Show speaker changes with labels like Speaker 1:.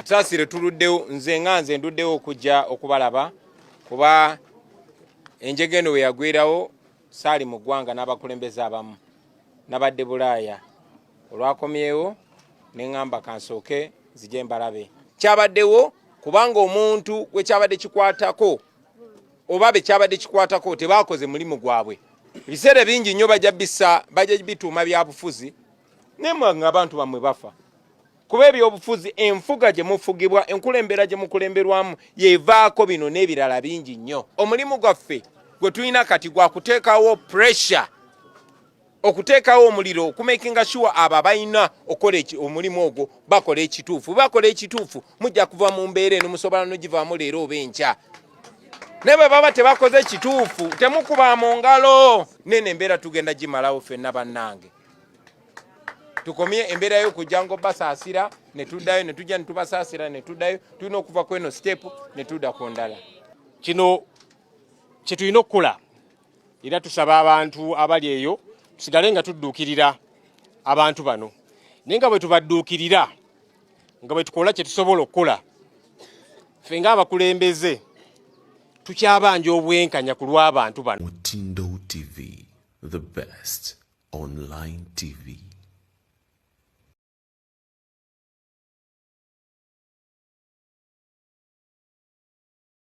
Speaker 1: Sasire tuluddewo nze nga nze nduddewo okujja okubalaba kuba enjega eno weyagwirawo saali mu ggwanga n'abakulembeze abamu nabadde bulaaya olwakomyewo ne ŋŋamba kansooke nzije mbalabe kyabaddewo kubanga omuntu gwe kyabadde kikwatako oba be kyabadde kikwatako tebaakoze mulimu gwabwe ebiseera bingi nnyo bajja bisa bajja bituuma byabufuzi naye mwanga abantu bammwe bafa kuba ebyobufuzi enfuga gye mufugibwa enkulembera gye mukulemberwamu yevaako bino n'ebirala bingi nnyo omulimu gwaffe gwe tulina kati gwa kuteekawo pressure okuteekawo omuliro okumakinga shuwa abo abalina okukola omulimu ogwo bakola ekituufu bakola ekituufu mujja kuva mu mbeera eno musobola nogivaamu leero oba enkya naye bwe baba tebakoze ekituufu temukuba mu ngalo nene embeera tugenda gimalawo fenna bannange tukomye embeera yokujja ngo basaasira ne tuddayo ne tujja ne tubasaasira ne tuddayo tulina okuva ku eno sitepu ne tudda ku ndala kino
Speaker 2: kye tulina okukola era tusaba abantu abali eyo tusigale nga tudduukirira abantu bano naye nga bwe tubadduukirira nga bwe tukola kye tusobola okukola ffe ng'abakulembeze tukyabanja obwenkanya ku lw'abantu bano mutindo
Speaker 3: tv the best online tv